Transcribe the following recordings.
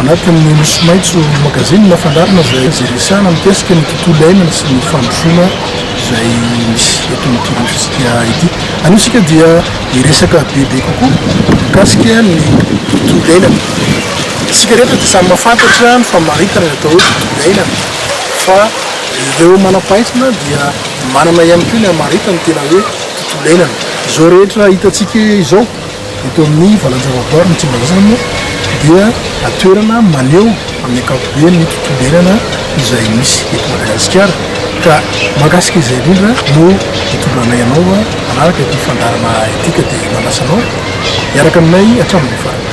Anatin'ny Nosy Maitso Magazine no fandaharana izay resahana mikasika ny tontolo iainana sy ny fandrosoana izay misy eto amin'ity Androntsika ity. Anio isika dia hiresaka bebe kokoa mikasika ny tontolo iainana. Isika rehetra dia samy mahafantatra ny famaritana ny atao hoe tontolo iainana fa ireo manam-pahaizana dia manana ihany koa ny hamaritany tena hoe tontolo iainana. Izao rehetra hitantsika izao Eto amin'ny valan-javaboary ny Tsimbazana moa dia toerana maneho amin'ny ankapobeny ny tontolo iainana izay misy eto Madagasikara ka mahakasika izay indrindra no hitondranay anao arahaka ity fandaharana ity ka dia manasa anao hiaraka aminay hatramin'ny farany.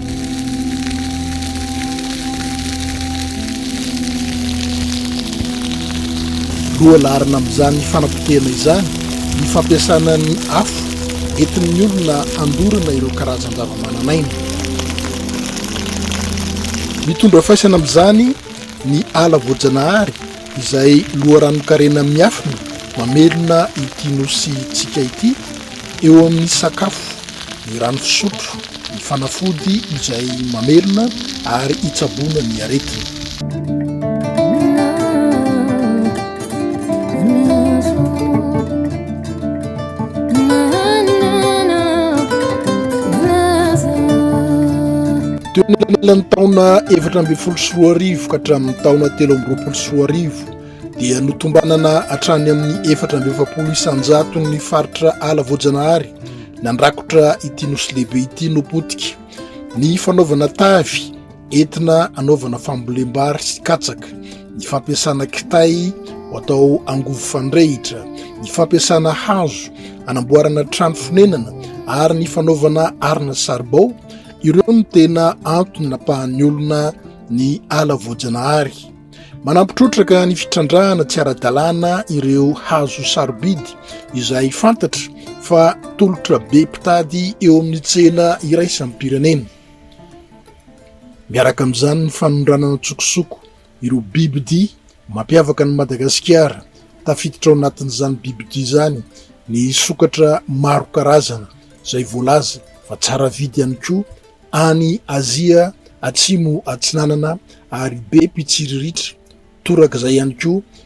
Loha laharana amin'izany fanapotehana izany ny fampiasana ny afo entin'ny olona handorana ireo karazan-javamananaina. Mitondra faisana amin'izany ny ala voajanahary izay loharanon-karena miafina mamelona ity Nosintsika ity, eo amin'ny sakafo, ny rano fisotro, ny fanafody izay mamelona ary hitsaboana ny aretina. Teo anelanelan'ny taona efatra ambin'ny folo sy roa arivo ka hatramin'ny taona telo amby roapolo sy roa arivo dia notombanana hatrany amin'ny efatra amby efapolo isan-jaton'ny faritra ala voajanahary nandrakotra ity nosy lehibe ity no potika ny fanaovana tavy entina anaovana fambolem-bary sy katsaka ny fampiasana kitay ho atao angovo fandrehitra ny fampiasana hazo anamboarana trano fonenana ary ny fanaovana arina saribao Ireo no tena antony napahan'ny olona ny ala voajanahary. Manampy trotraka ny fitrandrahana tsy ara-dalàna ireo hazo sarobidy izay fantatra fa tolotra be mpitady eo amin'ny tsena iraisam-pirenena. Miaraka amin'izany ny fanondranana an-tsokosoko Ireo bibidia mampiavaka an'i Madagasikara, tafiditra ao anatin'izany bibidia izany ny sokatra maro karazana izay voalaza fa tsara vidy ihany koa any Azia Atsimo Atsinanana ary be mpitsiriritra, torak'izay ihany koa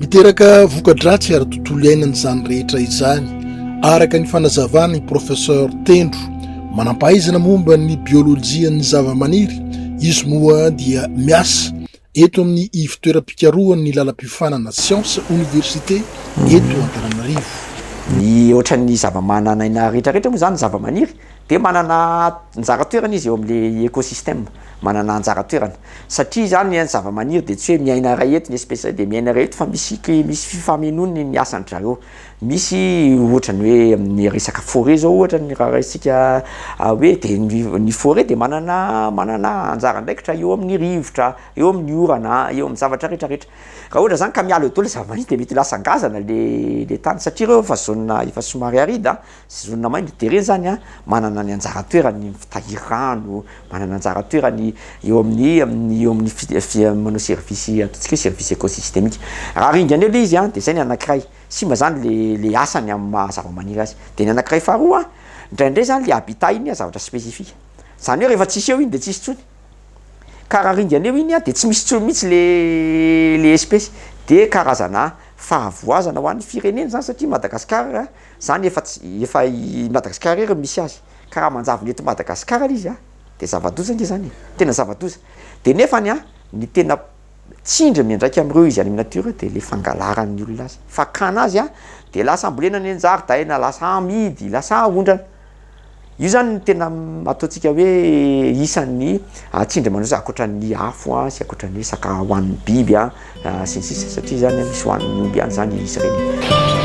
Miteraka voka-dratsy ary tontolo iainana izany rehetra izany, araka ny fanazavana i Professeur Tendro, manam-pahaizana momba ny biolojian'ny zavamaniry, izy moa dia miasa eto amin'ny ivon-toeram-pikarohan'ny lalam-piofanana siansa oniversite eto Antananarivo. Ny ohatran'ny zavamananaina retraretra moa izany zavamaniry dia manana anjara toerana izy eo amin'ilay écosystème, manana anjara toerana satria izany ny zavamaniry dia tsy hoe miaina iray eto ny espèce iray dia miaina iray eto fa misy ki- misy fifamenoany ny asan-dry zareo, misy ohatra ny hoe amin'ny resaka forêt zao ohatra ny raha raisintsika hoe dia ny ny forêt dia manana manana anjara andraikitra eo amin'ny rivotra, eo amin'ny orana, eo amin'ny zavatra rehetra rehetra, raha ohatra zany ka miala eo daholo ny zavamaniry dia mety ho lasa ngazana le le tany satria ireo efa zone efa somary aride a. Sezonin'ny maimbo dia ireny izany manana ny anjara toerany ny mitahiry rano, manana anjara toerany eo amin'ny amin'ny eo amin'ny fi manao service ataontsika hoe service ecosystemique. Raha ringana eo le izy dia zay ny anankiray, simba zany le le asany amin'ny maha zavamaniry azy. Dia ny anankiray faharoa, indraindray zany le habitat iny zavatra spécifique. Zany hoe rehefa tsisy eo iny dia tsisy intsony. Ka raha ringana eo iny dia tsy misy intsony mihitsy le le espèce. Dia karazana fahavoazana ho an'ny firenena zany satria Madagasikara Zany efa tsy, efa i Madagascar irery no misy azy, ka raha manjavona eto Madagascar le izy a, de zava-doza nge zany e, tena zava-doza. De nefany a, ny tena tsindry miandraika amreo izy any am natiora de le fangalaran'ny olona azy, fakana azy a, de lasa ambolena any anjaridaina, lasa amidy, lasa aondrana. Io zany no tena ataontsika hoe isan'ny tsindry mandroso ankoatra ny afo sy ankoatra ny hoe saka hohanin'ny biby sy ny sisa satria zany misy hohanin'ny omby ihany zany izy ireny.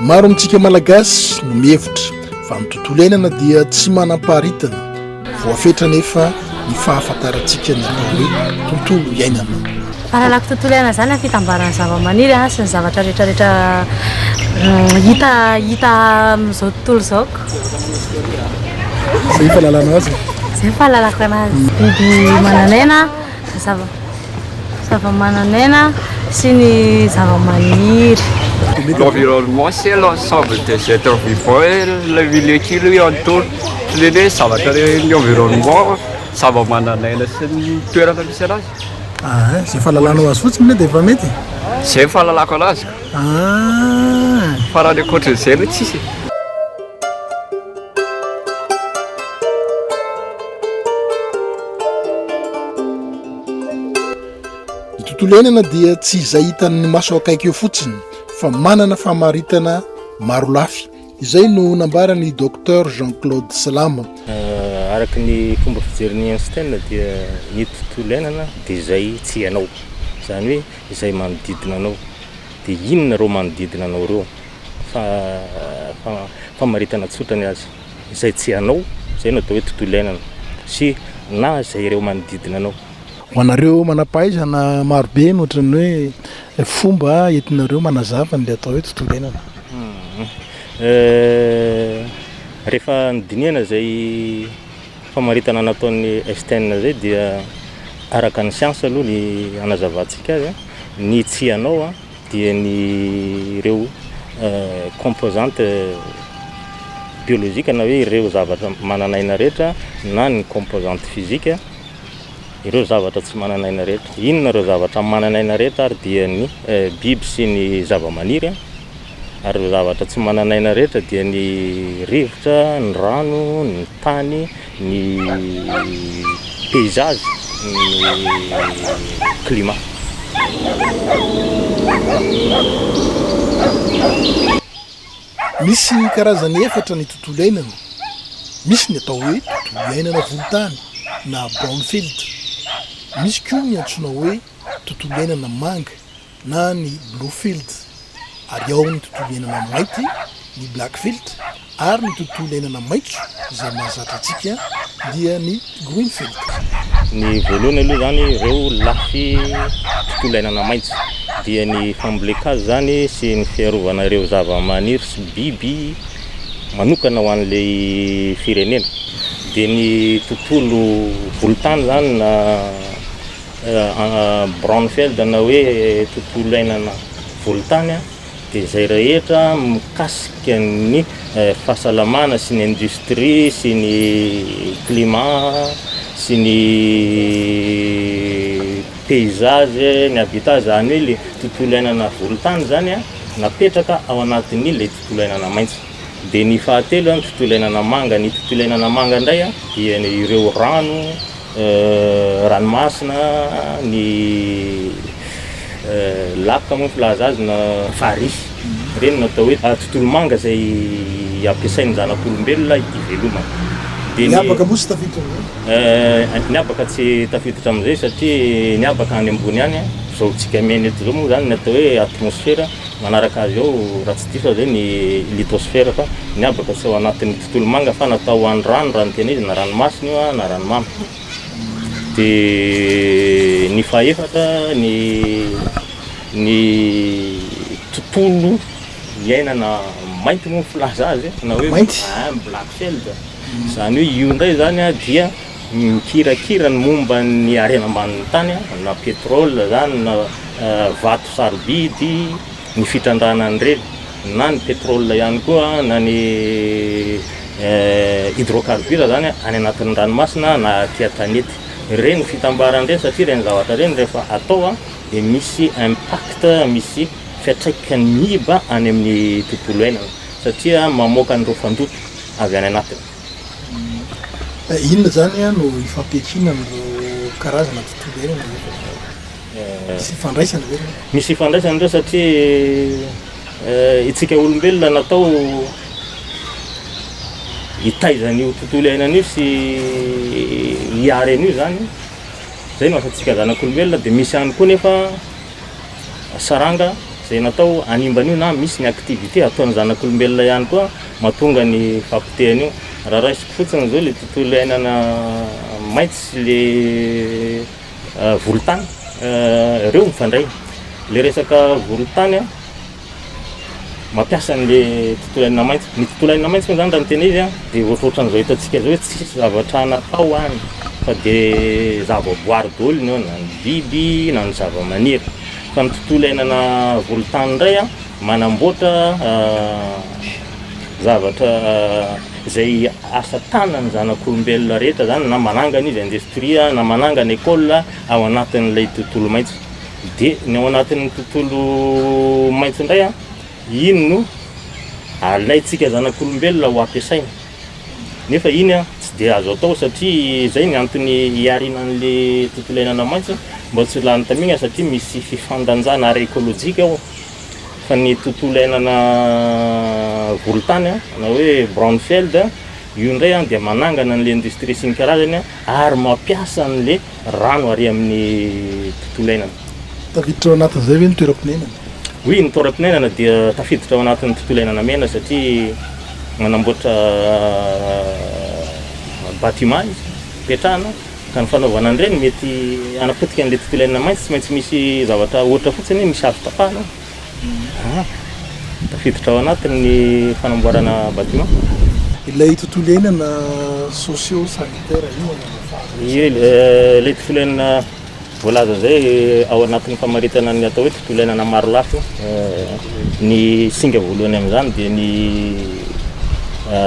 Maro amintsika Malagasy no mihevitra fa ny tontolo iainana dia tsy manam-paharitana. Voafetra anefa ny fahafantarantsika ny atao hoe tontolo iainana. Fahalalako tontolo iainana izany ny fitambaran'ny zavamaniry sy ny zavatra rehetrarehetra hita hita amin'izao tontolo izao. Izay ny fahalalana azy e? Izay ny fahalalako anazy. Biby manan'aina. zavamananaina sy ny zavamaniry. L'environnement c'est l'ensemble des etres vivants et le milieu qui lui entoure, ohatran'ny hoe zavatra ny environnement, zavamananaina sy ny toerana misy anazy. Ahh, izay fahalalanao azy fotsiny ve dia efa mety e? Izay ny fahalalako anazy ka. Ahh. Fa raha ny ankoatran'izay aloha tsisy e. Ny tontolo iainana dia tsy izay hitan'ny maso akaiky eo fotsiny fa manana famaritana maro lafy. Izay no nambaran'i Docteur Jean Claude Salama. Euh, araka ny fomba fijerin'i Einstein dia ny tontolo iainana dia izay tsy hainao. Izany hoe izay manodidina anao. Dia inona ireo manodidina anao ireo? Fa, fa, famaritana tsotra ny azy. izay tsy anao, izay no atao hoe tontolo iainana, sy na izay ireo manodidina anao. Ho anareo manam-pahaizana marobe no ohatran'ny hoe fomba entinareo manazava an'ilay atao hoe tontolo iainana. Rehefa nodinihana izay famaritana nataon'i Einstein izay dia araka ny siansa aloha ny hanazavantsika azy, ny tsy anao, dia ny ireo composantes biologiques na hoe ireo zavatra manana aina rehetra na ny composantes physiques ireo zavatra tsy manana aina rehetra. Inona ireo zavatra manana aina rehetra ary dia ny biby sy ny zavamaniry ary ireo zavatra tsy manana aina rehetra dia ny rivotra, ny rano, ny tany. Ny paysage ny climat. Misy karazany efatra ny tontolo iainana, misy ny atao hoe tontolo iainana volontany na brownfield, misy koa ny antsoina hoe tontolo iainana manga na ny Bluefield, ary ao ny tontolo iainana mainty, ny Blackfield, ary ny tontolo iainana maitso izay mahazatra antsika dia ny Greenfield. Ny voalohany aloha izany ireo lafy tontolo iainana maitso dia ny fambolen-kazo izany sy ny fiarovana ireo zava-maniry sy biby manokana ho an'ilay firenena, dia ny tontolo volontany izany na Braunfeld na hoe tontolo iainana volontany dia izay rehetra mikasika ny fahasalamana sy ny industrie sy ny climat sy ny paysage, ny habitat, izany hoe ilay tontolo iainana volontany izany an, napetraka ao anatin'ny ilay tontolo iainana maitso. Dia ny fahatelo an, ny tontolo iainana manga, ny tontolo iainana manga indray dia ireo rano, ranomasina, ny lac moa ny filaza azy na farihy, ireny no atao hoe tontolo manga izay ampiasain'ny zanak'olombelona hivelomany. Dia ny habaka moa tsy tafiditra amin'izay? Ny habaka tsy tafiditra amin'izay satria ny habaka any ambony any, izao antsika miaina eto izao moa izany ny atao hoe atmosfera, manaraka azy ao raha tsy diso aho izay ny lithosfera fa ny habaka tsy ao anatin'ny. Tolomanga fa natao ho an'ny rano raha ny tena izy, na ranomasina io na ranomamy. Dia ny fahefatra ny ny tontolo iainana mainty moa ny filaza azy na hoe mainty black shelled izany hoe io indray izany dia mikirakira ny momba ny harena ambanin'ny tany na petrole izany na vato sarobidy ny fitrandrahana an'ireny na ny pétrole ihany koa na ny hydrocarbures zany any anatin'ny ranomasina na aty an-tanety. Ireny no fitambarany ireny satria ireny zavatra ireny rehefa atao dia misy impact, misy fiantraikany miiba any amin'ny tontolo iainana satria mamoaka an'ireo fandoto avy any anatiny. Inona izany no ifampiankinan'ireo karazana tontolo iainana ireo? Misy ifandraisany ve ireo? Misy ifandraisany ireo satria itsika olombelona natao hitaiza an'io tontolo iainana io sy hiary an'io zany, zay no asantsika zanak'olombelona, de misy ihany koa nefa saranga zay natao hanimba an'io na misy ny activité ataon'ny zanak'olombelona ihany koa mahatonga ny fahapotehana io. Raha raisiko fotsiny zao le tontolo iainana maitso sy le Volontany reo mifandray le resaka volontany a mampiasa anle tontolo ainina maitso ny tontolo ainina maitso moa zany raha ny tena izy a de ohatrohatran'izao hitantsika zao hoe tsisy zavatra natao any fa de zavaboary daholo ny ao na ny biby na ny zavamaniry fa ny tontolo iainana volontany ndray a manamboatra zavatra izay asa tanan'ny zanak'olombelona rehetra zany na manangana izy industrie na manangana école ao anatin'ilay tontolo maitso de ny ao anatin'ny tontolo maitso indray a iny no alaintsika zanak'olombelona ho ampiasaina nefa iny a tsy de azo atao satria zay ny antony hiarina an'le tontolo iainana maitso mba tsy ho lany tamina satria misy fifandanjana ara écologique ao fa ny tontolo iainana volontany an, na hoe brownfield an, io indray an dia manangana an'ilay industrie sy ny karazany an, ary mampiasa an'ilay rano ary amin'ny tontolo iainana. Tafiditra ao anatin'izay ve ny toeram-pinainana? Oui, ny toeram-pinainana dia tafiditra ao anatin'ny tontolo iainana mena satria manamboatra bâtiment izy, petrahana, Ka ny fanaovana an'ireny mety hanapotika an'ilay tontolo iainana mainty, tsy maintsy misy zavatra ohatra fotsiny hoe misy azo tapahana an! Tafiditra ao anatin'ny fanamboarana bâtiment. Ilay tontolo iainana socio-sanitaire io angamba faharoa. Ilay tontolo iainana Voalaza izay ao anatin'ny famaritana ny atao hoe tontolo iainana marolafy. Ny singa voalohany amin'izany dia ny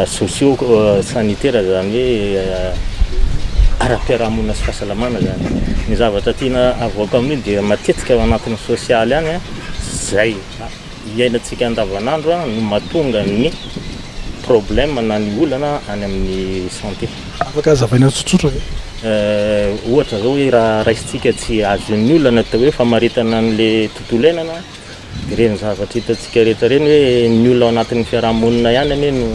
socio sanitaire izany hoe ara-piarahamonina sy fahasalamana izany. Ny zavatra tiana avoaka amin'io dia matetika ao anatin'ny sosialy any izay iainantsika andavanandro no mahatonga ny problème na ny olana any amin'ny santé. Afaka azavaina tsotsotra ve? Ohatra zao hoe raha raisintsika tsy azon'ny olona atao hoe famaritana an'le tontolo iainana de ireny zavatra hitantsika rehetra ireny hoe ny olona ao anatin'ny fiarahamonina ihany anie no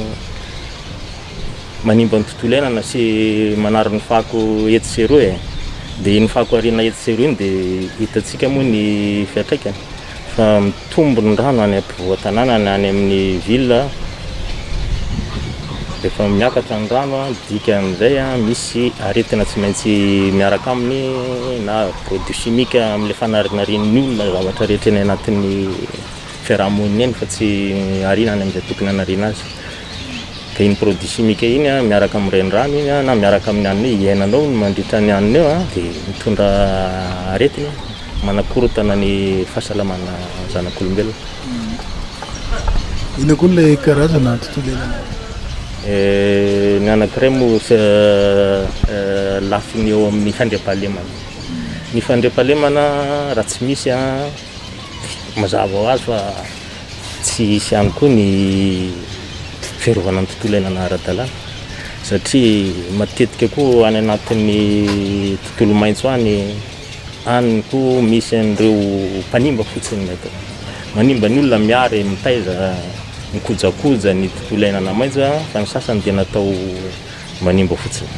manimba ny tontolo iainana sy manary ny fako etsy sy eroa e! de iny fako ariana etsy sy eroa iny de hitantsika moa ny fiatraikany. Fa mitombo ny rano any ampovoan-tanàna na any amin'ny ville, rehefa miakatra ny rano dia midika amin'izay misy aretina tsy maintsy miaraka aminy na produits chimiques amin'ilay fanarinarian'ny olona ny zavatra rehetra eny anatin'ny fiaraha-monina eny fa tsy ariana any amin'izay tokony hanariana azy. Dia iny produits chimiques iny miaraka amin'ny renirano iny na miaraka amin'ny hanina iny, iainanao iny mandritra ny hanina eo dia mitondra aretina iny. Manakorontana ny fahasalamana zanak'olombelona. Inona koa ilay karazana tontolo iainana hafa? Ny anankiray moa lafiny eo amin'ny fandriampahalemana. Ny fandriampahalemana raha tsy misy mazava ho azy fa tsy hisy ihany koa ny fiarovana ny tontolo iainana ara-dalàna satria matetika koa any anatin'ny tontolo maitso any Any koa misy an'ireo mpanimba fotsiny ny atao. Manimba ny olona miary mitaiza ny kojakoja, ny tontolo iainana maitso fa ny sasany dia natao manimba fotsiny.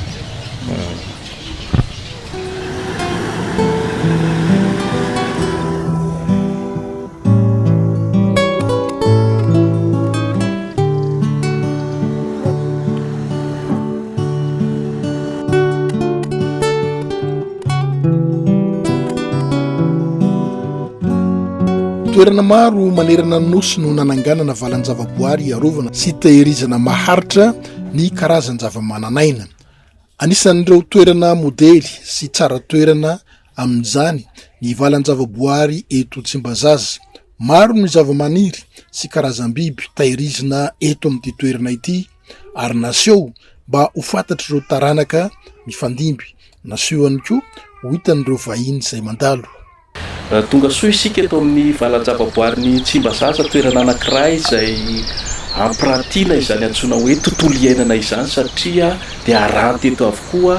Toerana maro manerana ny nosy no nananganana valan-javaboary hiarovana sy tehirizana maharitra ny karazan-javamananaina. Anisan'ireo toerana modely sy tsara toerana. amin'izany ny valan-javaboahary eto Tsimbazaza. Maro ny zavamaniry sy karazam-biby tahirizina eto amin'ity toerana ity ary naseho mba ho fantatr'ireo taranaka mifandimby, naseho ihany koa ho hitan'ireo vahiny izay mandalo. Tonga soa isika eto amin'ny valan-javaboaharin'i Tsimbazaza, toerana anankiray izay ampirantiana izany antsoina hoe tontolo iainana izany satria dia aranty eto avokoa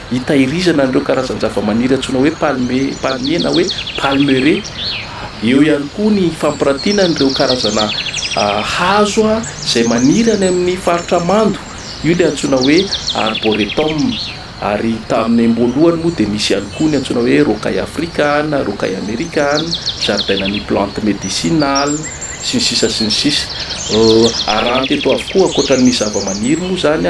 hitahirizana an'ireo karazan-javamaniry antsoina hoe palme, palmier na hoe palmeraie. Eo ihany koa ny fampirantiana an'ireo karazana hazo izay maniry any amin'ny faritra mando, io ilay antsoina hoe arboretum. Ary tamin'ny am-boalohany moa dia nisy ihany koa ny antsoina hoe rocaille africana, rocaille americana, jardinerie plante médicinale, sy ny sisa sy ny sisa. Aranty eto avokoa, ankoatra ny zavamaniry moa izany,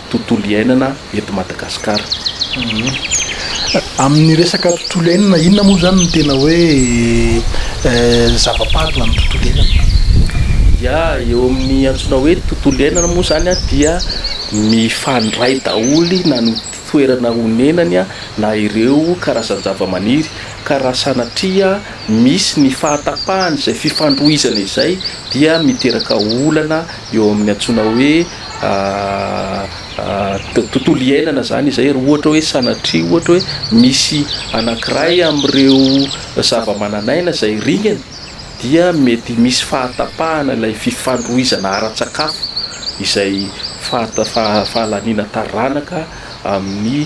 tontolo iainana eto Madagasikara. Amin'ny resaka tontolo iainana, inona moa izany no tena hoe zava-pady ho an'ny tontolo iainana? Ia, eo amin'ny antsoina hoe tontolo iainana moa izany dia mifandray daholo na ny toerana onenany na ireo karazan-javamaniry ka raha sanatria misy ny fahatapahan'izay fifandrohizana izay dia miteraka olana eo amin'ny antsoina hoe tontolo iainana izany izay, raha ohatra hoe sanatria ohatra hoe misy anankiray amin'ireo zavamananaina izay ringana dia mety misy fahatapahana ilay fifandrohizana ara-tsakafo izay fahalaniana taranaka amin'ny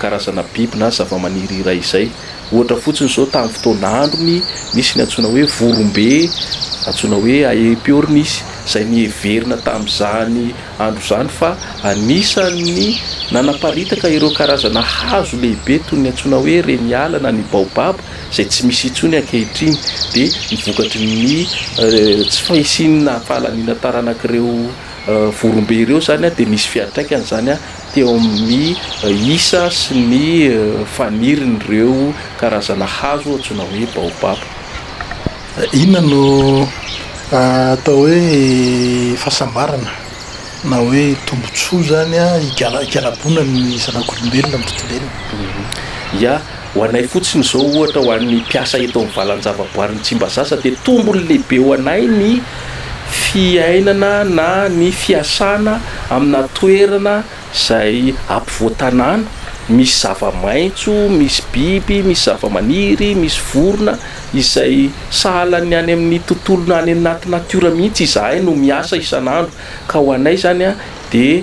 karazana biby na zavamaniry iray izay. Ohatra fotsiny izao tamin'ny fotoana androny, nisy ny antsoina hoe vorombe, antsoina hoe Aepyornis, izay niheverina tamin'izany andro izany fa anisan'ny nanaparitaka ireo karazana hazo lehibe toy ny antsoina hoe reniala na ny baobab izay tsy misy intsony ankehitriny dia ny vokatry ny tsy fahisian'ny fahalaniana taranak'ireo vorombe ireo izany dia nisy fiantraikany izany teo amin'ny isa sy ny fanirin'ireo karazana hazo antsoina hoe baobaba. Inona no atao hoe fahasambarana na hoe tombotsoa izany higala-higalabona ny zanak'olombelona amin'ny tontolo iainana? Ia. Ho anay fotsiny izao ohatra ho an'ny mpiasa eto amin'ny valanjavaboarin'i Tsimbazaza dia tombony lehibe ho anay ny fiainana na ny fiasana aminà toerana izay ampovoan-tanàna, misy zava-maitso, misy biby, misy zava-maniry, misy vorona izay sahalan'ny any amin'ny tontolonà any anaty natiora mihitsy izahay no miasa isan'andro ka ho anay izany dia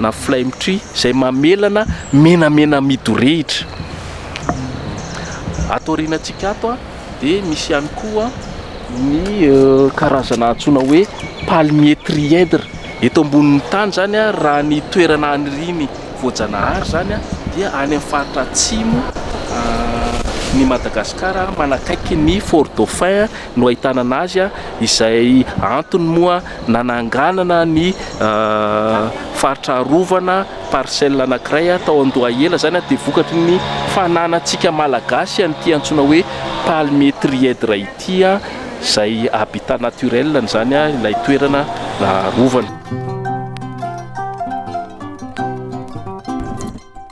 na flame tree izay mamelana menamena midorehitra. Ato aorianantsika ato dia misy ihany koa ny karazana antsoina hoe palmier trièdre. Eto ambonin'ny tany izany raha ny toerana anirian'ny voajanahary izany dia any amin'ny faritra atsimo ny Madagasikara manakaiky ny fort dauphin no ahitana an'azy izay antony moa Nananganana ny faritra arovana parcelle anankiray tao Andohahela, izany dia vokatry ny fananantsika Malagasy an'ity antsoina hoe palmier trièdre ity, izay habitat naturel an'izany ilay toerana arovana.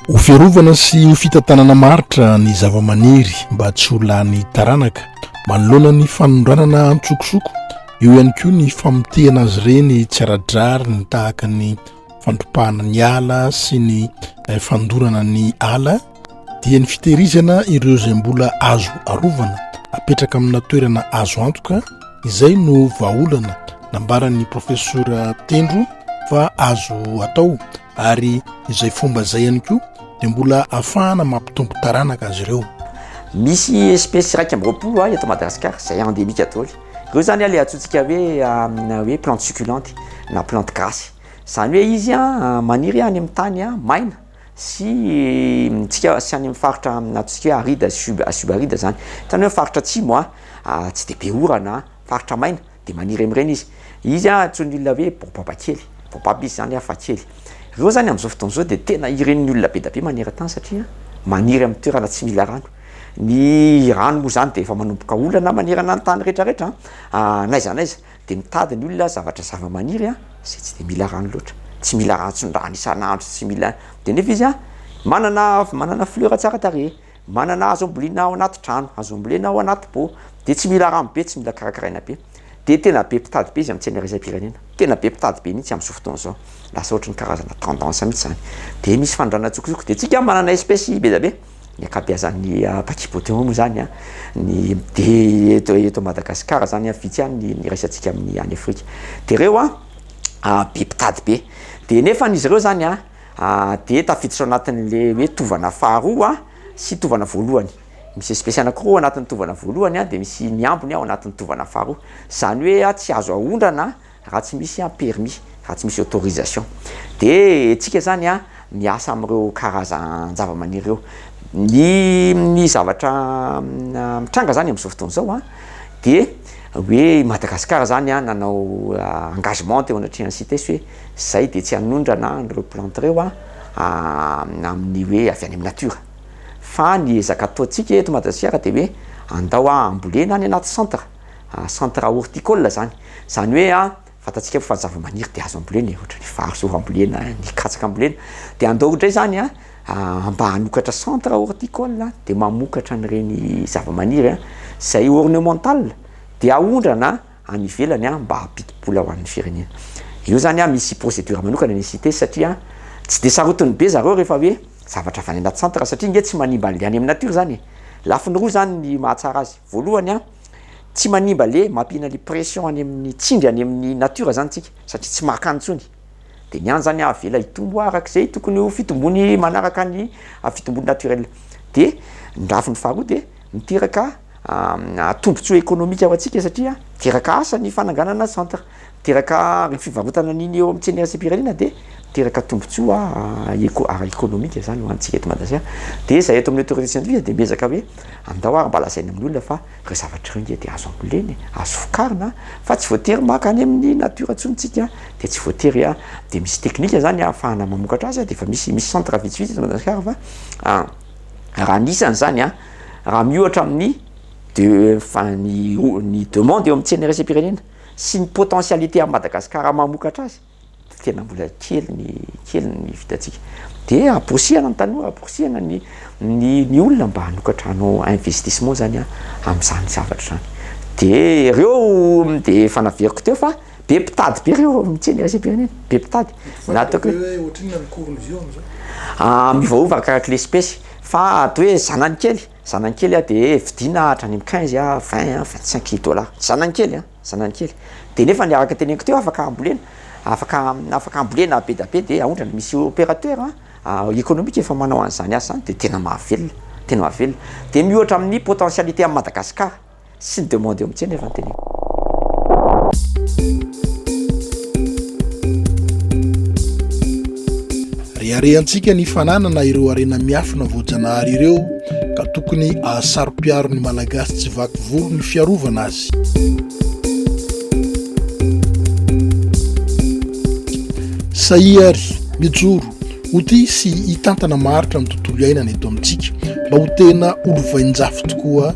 Ho fiarovana sy ho fitantanana maritra ny zavamaniry mba tsy ho lany taranaka manoloana ny fanondranana antsokosoko, Eo ihany koa ny famotehana azy ireny tsy ara-drariny tahaka ny fandripahana ny ala sy ny eh, fandorana ny ala dia ny fitehirizana ireo izay mbola azo arovana apetraka amina toerana azo antoka izay no vahaolana nambaran'ny profesora tendro fa azo atao ary izay fomba izay ihany koa dia mbola afahana mampitompo taranaka azy ireo misy espesy iraika ambyroapolo a ah, eto madagasikara zay endemika daholo Ireo zany ilay antsointsika hoe hoe plante succulente na plante gasy. Izany hoe izy maniry any amin'ny tany maina sy tsika sy any amin'ny faritra antsointsika hoe aride sub subaride zany. Zany hoe faritra atsimo a tsy dia be orana, faritra maina dia maniry amin'ireny izy. Izy antsoin'ny olona hoe baobaba kely, baobaba izy zany fa kely. Ireo zany amin'izao fotoana izao dia tena iren'ny olona be dia be maneran-tany satria maniry amin'ny toerana tsy mila rano. Ny rano moa zany de efa manomboka olana manerana ny tany rehetra rehetra a, n'aiza n'aiza de mitady ny olona zavatra zavamaniry a zay tsy de mila rano loatra, tsy mila rantson-drano isan'andro, tsy mila de nefa izy a manana manana fleur tsara tarehy, manana hazo ambolena ao anaty trano, hazo ambolena ao anaty pot, de tsy mila rano be, tsy mila karakaraina be, de tena be mpitady be izy amin'ny tsena iraisam-pirenena, tena be mpitady be mihitsy am'zao fotoana zao, lasa ohatry ny karazana tendance mihitsy zany, de misy fanondranana an-tsokosoko, de tsika manana espèce be dia be. Ny ankabeazan'ny Paki Boteon moa izany ny dia eto Madagasikara izany an, vitsy ihany ny iraisantsika amin'ny any Afrika. Dia ireo an, be mpitady be. Dia nefany izy ireo izany an, dia tafiditra ao anatin'ilay hoe tovana faharoa sy tovana voalohany. Misy espesy anankiroa ao anatin'ny tovana voalohany dia misy ny ambiny ao anatin'ny tovana faharoa. Izany hoe tsy azo aondrana Raha tsy misy an permis, raha tsy misy autorisation de tsika zany an miasa amin'ireo karazan-javamaniry ireo. Ny ny zavatra mitranga zany amin'izao fotoana izao an de hoe i Madagasikara zany an nanao engagement teo anatrehan'ny CITES hoe zay de tsy hanondrana an'ireo plantes ireo an amin'ny hoe avy any amin'ny natiora. Fa ny ezaka ataontsika eto Madagasikara de hoe andao ambolena any anaty centre. centre horticole zany, zany hoe a fantatsika fa zavamaniry de azo ambolena e, ohatra ny vary zao ambolena, ny katsaka ambolena, de andao indray zany a mba hanokatra centre horticole de mamokatra an'ireny zavamaniry a zay ornemental de aondrana any ivelany a mba hampidi-bola ho an'ny firenena, io zany a misy procedure manokana ny CITES satria tsy de sarotiny be zareo rehefa hoe zavatra avy any anaty centre satria nge tsy manimba anle any amin'ny nature zany e, lafiny roa zany ny mahatsara azy. Voalohany a, tsy manimba le mampiana le pression any amin'ny tsindry any amin'ny natiora zany tsika satria tsy maka any tsony de ny any zany avela hitombo arak'izay tokony ho fitombony manaraka ny fitombony naturel de ny rafiny faharoa de miteraka tombotsoa ekonomika ho antsika satria miteraka asa ny fananganana centre Miteraka ny fivarotana ny eo amin'ny tsena iraisam-pirenena dia miteraka tombontsoa eko- ara-ekonomika izany ho antsika eto Madagasikara. Dia izahay eto amin'ny Autorité scientifique dia miezaka hoe andao ary mba lazaina amin'ny olona fa ireo zavatra ireo ange dia azo ambolena e, azo vokarina a, fa tsy voatery maka any amin'ny natiora intsony isika dia tsy voatery a. Dia misy teknika izany ahafahana mamokatra azy a, dia efa misy, misy centre vitsivitsy eto Madagasikara fa a, raha ny isany izany a, raha miohatra amin'ny de- fa- ny o- ny demande eo amin'ny tsena iraisam-pirenena. sy ny potentialité an'i Madagasikara mamokatra azy dia tena mbola kely ny kely ny vitantsika. Dia amporisihana ny tanora, amporisihana ny ny ny olona mba hanokatra hanao investissement zany a amin'izany zavatra izany. Dia ireo dia efa naveriko teo fa be mpitady be ireo amin'ny tsena iraisam-pirenena, be mpitady. Fa Na ataoko ataoko hoe hoe ohatrinona ny cours-ny vy eo amin'izao? a miovaova arakarak'ilay espèce fa ato hoe zanany kely Zanany kely a, dia vidiana hahatra any amin'ny quinze a, vingt a, vingt cinq mille dollars. Zanany kely a, zanany kely. Dia nefa ny araka teneniko teo afaka hambolena, afaka afaka hambolena be dia be dia aondrana. Misy opérateur économique efa manao an'izany asa izany dia tena mahavelona, tena mahavelona. Dia miohatra amin'ny potentialité an'i Madagasikara. sy ny demande eo amin'ny tsena efa noteneniko. Reharehantsika ny fananana ireo harena miafina voajanahary ireo ka tokony ahasaro-piaro ny Malagasy tsy vaky volo ny fiarovana azy. Sahia ary mijoro ho tia sy hitantana maharitra ny tontolo iainana eto amintsika mba ho tena olovain-jafy tokoa